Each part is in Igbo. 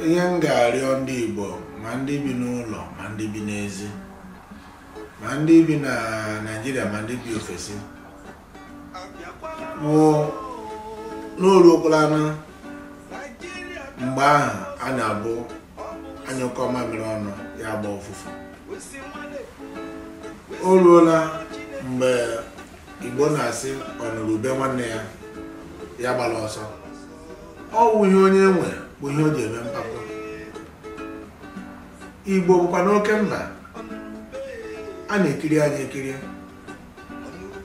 ihe m ga-arịọ ndị Igbo ma ndị bi n'ụlọ ma ndị bi n'ezi ma ndị bi na Naịjirịa ma ndị bi ofesi bụ na o ruokwala na mgbe ahụ a na-abụ a nyụkọọ mamịrị ọnụ ya agbaa ụfụfụ o ruola mgbe Igbo na-asị ọ nụrụ ube nwanne ya ya gbara ọsọ ọ wụ ihe onye nwe bụ ihe o ji eme mpako igbo bụkwanụ oke mba a na-ekiri anyị ekiri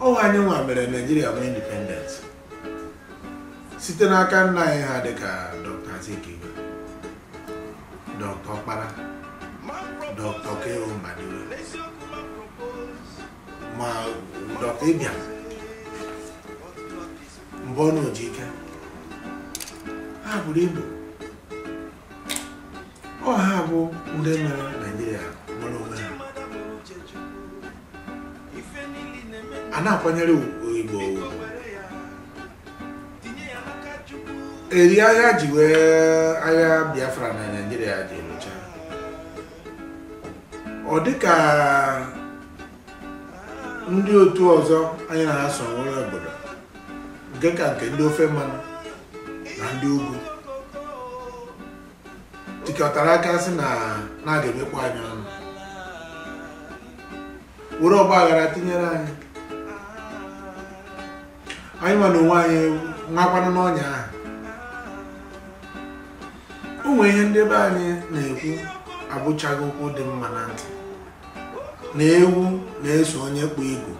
ọ wụ anyị nwa mere naijiria nwee independence site n'aka nna anyị ha dịka dr azikiwe dr ọkpara dr k o mbadiwe ma dr ibiam mbonu ojike ha buru ibu ọ ha bụ ndị mere naijiria nwere onwe ha a na-akwanyere igbo eri agha ji wee agha biafra na naijiria ji lụchaa ọ dịka ndị otu ọzọ anyị na ha so nwere obodo nke ka nke ndị ofe mmanụ na ndị ugwu tikọtara aka sị na a ga-emekpọ anyị ọnụ were ọgba aghara tinyere anyị anyị nwa n'onwe anyị nwakwanụ n'ọnya ahụ o nwere ihe ndị be anyị na-ekwu abụchaghị okwu dị mma na ntị na ewu na-eso onye kpụ igu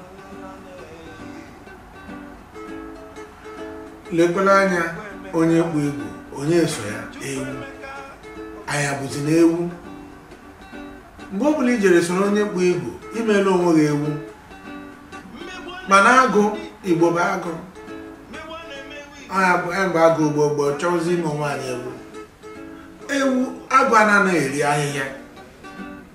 lekwala anya onye kpụ igu onye so ya ewu anya bụzi na ewu mgbe ọ bụla i jere soro onye kpụ igu i meela onwe gị ewu mana agụ igbo bụ agụ mgbe agụ igbo bụ chọzi ime onwe anyị ewu ewu agụ anaghị eri ahịhịa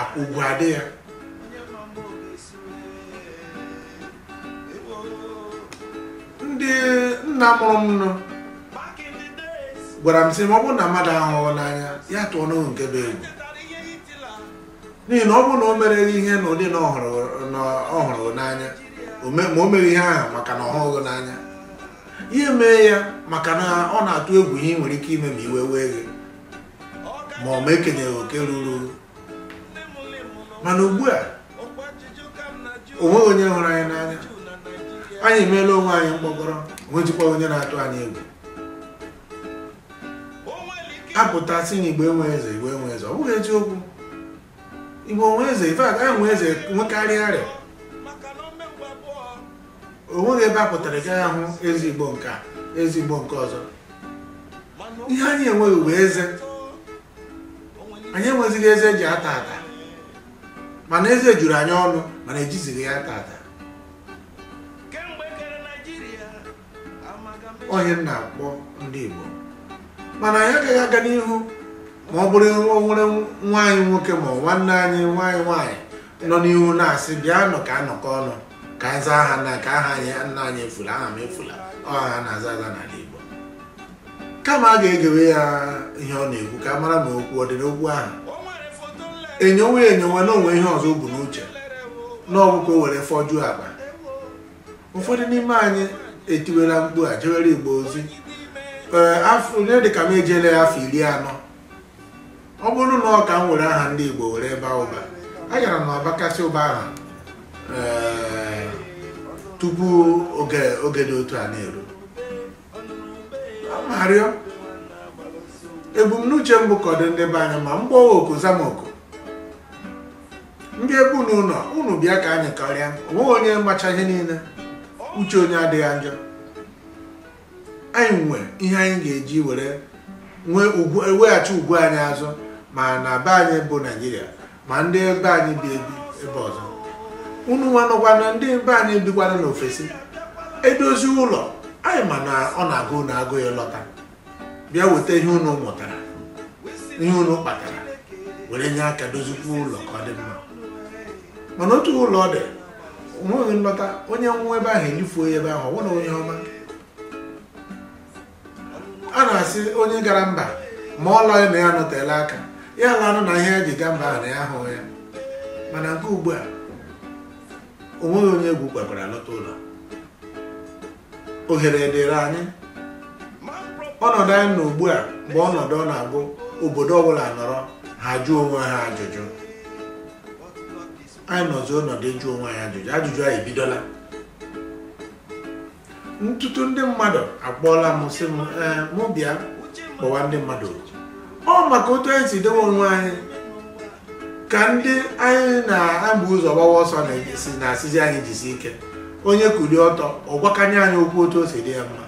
akwụkwọ adị ya ndị nna mụrụ m nọ gwara m sị ma ọ bụrụ na mmadụ ahụghị n'anya ya tụọ n'ohu nke bụ egwu n'ihi na ọ bụrụ na o mere ihe n'ụdị na ọ hụrụ n'anya ma o mere ihe ahụ maka na ọ hụghị n'anya ya mee ya maka na ọ na-atụ egwu ihe ị nwere ike ime ma iwe wee gị ma ọ ma ekenyeghị oke ruru mana ugbu a o nweghị onye hụrụ anyị n'anya anyị emeela onwe anyị mkpọkọrọ o nwezikwa onye na-atụ anyị egwu a pụta sị na igbo enwe eze igbo enwe eze ọ bụghị eziokwu igbo enwe eze in fact anyị nwe eze nwekarịa arịa o nweghị ebe a pụtara ị gaghị ahụ eze igbo nke a eze igbo nke ọzọ ihe anyị enweghị bụ eze anyị enwezighị eze eji ata ata mana eze juru anyị ọnụ mana ejizighị ya ata ata onye m na-akpọ ndị Igbo mana anyị agaghị aga n'ihu ma ọ bụrụ o nwere nwa anyị nwoke ma ọ nwanne anyị nwaanyị nwaanyị nọ n'ihu na-asị bịanụ ka a nọkọọ ọnụ ka anyị zaa aha nna ka aha nna anyị efula aha m efula ọ aha a na-aza aza n'ala Igbo kama a ga-egewe ya ihe ọ na-ekwu ka a mara ma okwu ọ dị n'okwu ahụ enyowe enyowe na o nwe ihe ọzọ o bu n'uche na ọ wụ ka o were fọjuo akpa ụfọdụ n'ime anyị etiwela mkpu a jewere igbo ozi ee afọ onye dịka m ejele ya afọ iri anọ ọ bụrụ na ọ ka m were aha ndị igbo were baa ụba agara m abakasị ụba ahụ ee, tupu oge oge dị otu a na-eru m arịọ ebumnuche m bụ ka ọ dị ndị be anyị mma m kpọwa oku zaa m oku ndị ebe unu nọ unu bịa ka anyị kọrịa onweghị onye macha ihe niile uche onye adịghị njọ anyị nwe ihe anyị ga-eji were nwee ugwu weghachi ugwu anyị azụ ma na be anyị bụ naijiria ma ndị be anyị bi ebi ebe ọzọ unu nwa nụkwanụ ndị be anyị bikwanụ n'ofesi e dozie ụlọ anyị ma na ọ na-agụ unu agụụ ịlọta bịa weta ihe unu mụtara ihe unu kpatara were nye aka dozikwa ụlọ ka ọ dị mma mana otu ụlọ dị onweghị nlọta onye nwụọ ebe ahụ e lifuo ya ebe ahụ ọ bụrụ onye ọma a na-asị onye gara mba ma ọ lọghị na ya nọtela aka ya lanụ na ihe ya ji gaa mba ahụ na ya ahụghị ya mana nke ugbu a onweghị onye egwu kwekwara lọta ụlọ ohere dịrị anyị ọnọdụ anyị nọ ugbu a bụ ọnọdụ ọ na-abụ obodo ọbụla nọrọ ha jụọ onwe ha ajụjụ anyị nọzi ọnọdụ ịjụ onwe anyị ajụjụ ajụjụ anyị ebidola n'ụtụtụ ndị mmadụ akpọọla m sị m ee mụ bịa kpọwa ndị mmadụ ọ maka otu anyị si dewe onwe anyị ka ndị anyị na-ama ụzọ gbawa ọsọ na-esi na-asịzi anyị jisi ike onye kuli ọtọ ọ gwakanye anyị okwu otu o si dị ya mma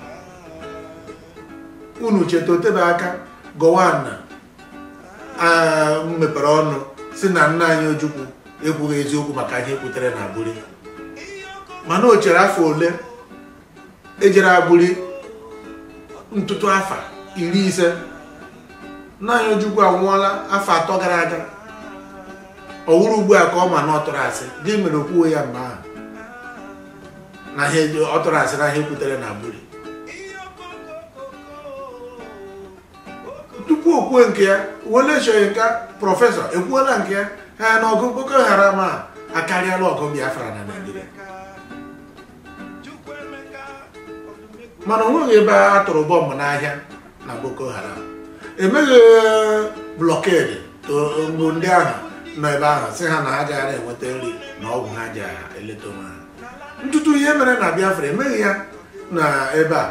unu cheta o tebe aka gowon ah, mepere ọnụ sị na nna anyị ojukwu ekwughị eziokwu maka ihe e kwutere na aburi mana o chere afọ ole e jere aburi ntụtụ afọ iri ise nna anyị ojukwu anwụọla afọ atọ gara aga ọ wụrụ ugbu a ka ọ ma na ọ tụrụ asị gịnị mere o kwughị ya mgbe ahụ na ihe ọ tụrụ asị na ihe e kwutere na aburi tupu o kwuo nke ya wole soyinka prọfesọ ekwuola nke ya ha na ọgụ boko haram akarịala ọgụ biafra na naijiria mana o nweghị ebe a tụrụ bọmbụ n'ahịa na Boko Haram emeghị blockade mgbe ndị ahụ nọ ebe ahụ sị ha na ha agaghị enweta nri na ọgwụ ha ji eleta onwe ha ntụtụ ihe mere na Biafra emeghị ya na ebe a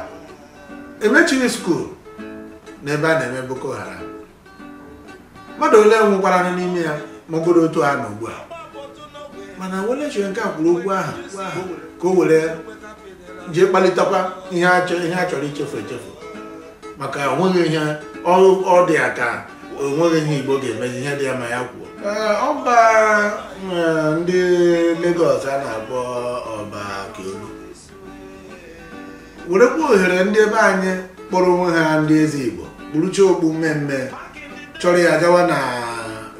emechighị skuul na ebe a na-eme Boko Haram mmadụ ole nwụkwaranụ n'ime ya ma ọ bụrụ otu a na ugbu a mana Wole Soyinka kwuru okwu ahụ okwu ahụ ka o were jee kpalitekwa ihe a chọ- ihe a chọrọ ichefu echefu maka onweghị ihe ọ ọ dị ya ka onweghị ihe igbo ga-emezi ihe dị ya mma ya kwuo Ee, ọba eh, ndị Lagos a na-akpọ ọba Akiolu werekwa ohere ndị ebe anyị kpọrọ onwe ha ndị eze igbo kpurucha okpu mmee mmee chọrọ ya gawa na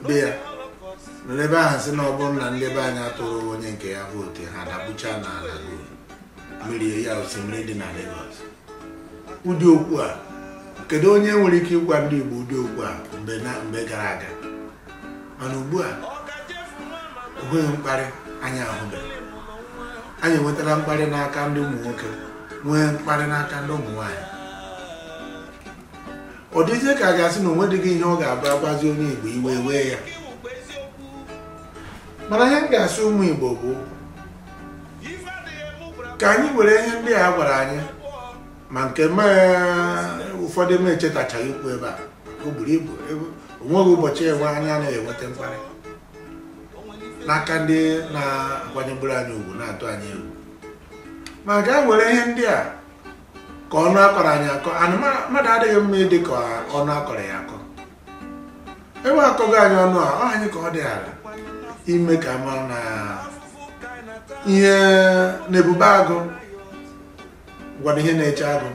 be ya nọrọ ebe ahụ sị na ọ bụrụ na ndị be anyị atụghị onye nke ya vootu ha dapụcha n'ala mmiri ya osimiri dị na Lagos ụdị okwu a kedu onye nwere ike ịgwa ndị Igbo ụdị okwu a mgbe na mgbe gara aga mana ugbu a onweghị mkparị anyị ahụbeghị anyị enwetala mkparị n'aka ndị ụmụ nwoke nwee mkparị n'aka ndị ụmụ nwaanyị ọ dịzie ka a ga-asị na o nwedịghị ihe ọ ga-abụ a gwazi onye Igbo iwe wee ya mana ihe m ga-asị ụmụ Igbo bụ ka anyị were ihe ndị a gwara anyị ma nke ụfọdụ m echetachaghị ikwu ebe a o buru ibu onweghị ụbọchị enwe anyị anaghị enweta mkparị n'aka ndị na-akwanyeburu anyị ugwu na-atụ anyị egwu ma ka anyị were ihe ndị a ka ọnụ a kọrọ anyị akọ and mmadụ adịghị mma ịdị ka ọnụ a kọrọ ya akọ ebe a kọgo anyị ọnụ a ọ anyị ka ọ dịịrị ime ka a ma na ihe na ebube agụ gwara ihe na-eche agụ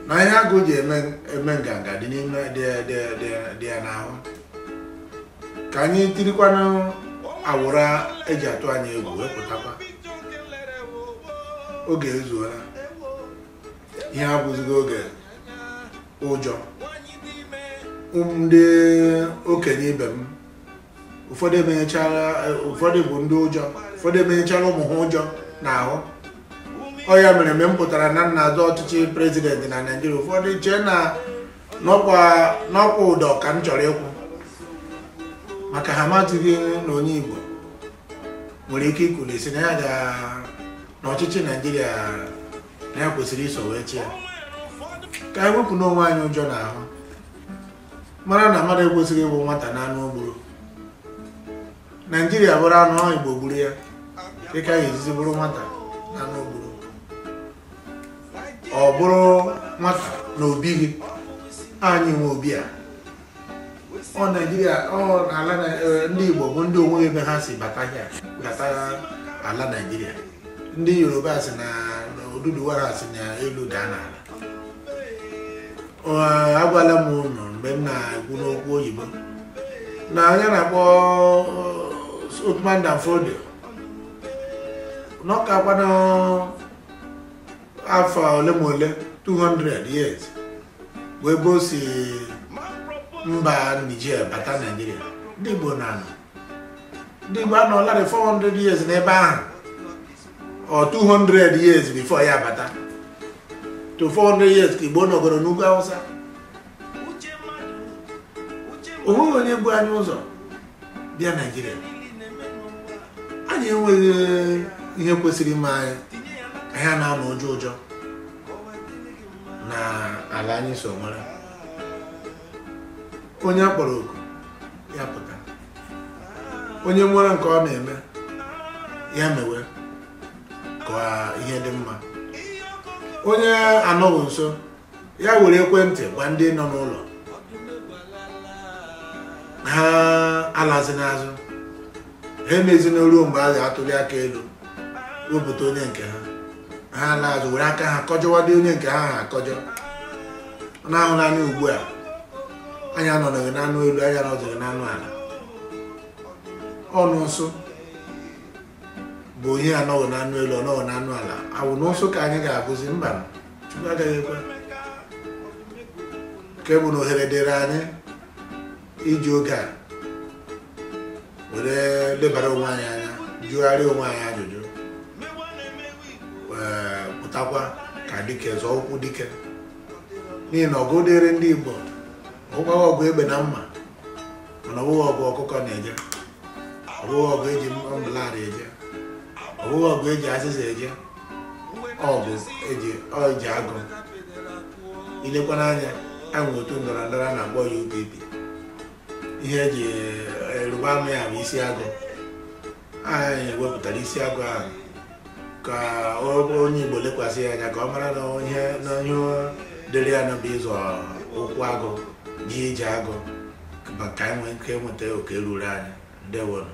na ihe agụ ji eme eme nganga dị n'ime dị dị- dị- dị ya n'ahụ ka anyị tirikwanụ awụrụ e ji atụ anyị egwu wee pụtakwa oge ezuola ihe a abụzighị oge ụjọ ndị okenye ibe m ụfọdụ bụ ndị ụjọ ụfọdụ emenyechara ụmụ ha ụjọ n'ahụ ọ ya mere mgbe m pụtara na m na-azọ ọchịchị prezidenti na naijiria ụfọdụ chee na ọkwa ụdọ ka m chọrọ ịkwụ maka ha amatụghị na onye igbo nwere ike ikuli sị na ya ga n'ọchịchị naijiria na ya kwesịrị iso wee chịa ka anyị wepụnụ onwe anyị ụjọ n'ahụ mara na mmadụ ekwesịghị ịbụ nwata n'anụ o gburu naijiria bụrụ anụ anyị igbo gburu ya dịka anyị ejizi bụrụ nwata n'anụ o gburu ọ bụrụ nwata n'obi gị anyị nwe obi a ọ naijiria ọ ala na- eh, ndị igbo bụ ndị o nweghị ebe ha si bata hịa bata ala naijiria ndị yoruba sị na na oduduwa si n'elu daa n'ala Ọ, agwala m unu mgbe m na-ekwu n'okwu oyibo na onye a na-akpọ Othman Dan Fodio na ọ kakwanụ afọ ole ma ole 200 years wee bụ si mba Niger bata Naijiria ndị Igbo na-anọ ndị Igbo anọlarị 400 years n'ebe ahụ or 200 years before ya bata to 400 years ka Igbo nọgoro n'ugwu Awụsa o nweghị onye bu anyị ụzọ bịa Naijiria anyị enweghị ihe kwesịrị ime anyị anyị ana-anọ ụjọ ụjọ n'ala anyị so nwere onye a kpọrọ oku ya pụta onye nwere nke ọ ma eme ya mewe ka ihe dị mma onye anọghị nso ya were ekwentị gwa ndị nọ n'ụlọ ha alazina azụ ha emezina ruo mgbe a ga-atụli aka elu wepụta onye nke ha ha na-azụ were aka ha kọjọwadị onye nke ha ha akọjọ ọ na-ahụ n'anya ugbu a anyị anọdụghị n'anụ elu anyị anọdụghị n'anụ ala ọnụ ụsụ bụ onye anọghị n'anụ elu ọ nọghị n'anụ ala ọ wụ na ụsụ ka anyị ga-abụzi mba chukwu agaghị ekwe nke bụ na ohere dịrị anyị iji oge a were lebara onwe anyị anya jụgharịa onwe anyị ajụjụ ee, pụtakwa ka dike zọọ ụkwụ dike n'ihi na ọgụ dịrị ndị Igbo ọ wụghị ọgụ egbe na mma mana ọ wụghị ọgụ ọkụkọ na-eje ọ bụghị ọgụ e ji umbrella eje ọ bụghị ọgụ e ji azịza eje ọgụ e ji ọji agụ i lekwa anya e nwere otu ndọrọ ndọrọ a na-akpọ ya UPP ihe e ji arịba ama ya bụ isi agụ ahụ anyị wepụtara isi agụ ahụ ka onye Igbo lekwasị ya anya ka ọ mara na ihe na ihe dịrị ya na ọ bụ ịzọ ụkwụ agụ jee ije agụ ka e nwee ike nweta oke ruru anyị ndewo nụ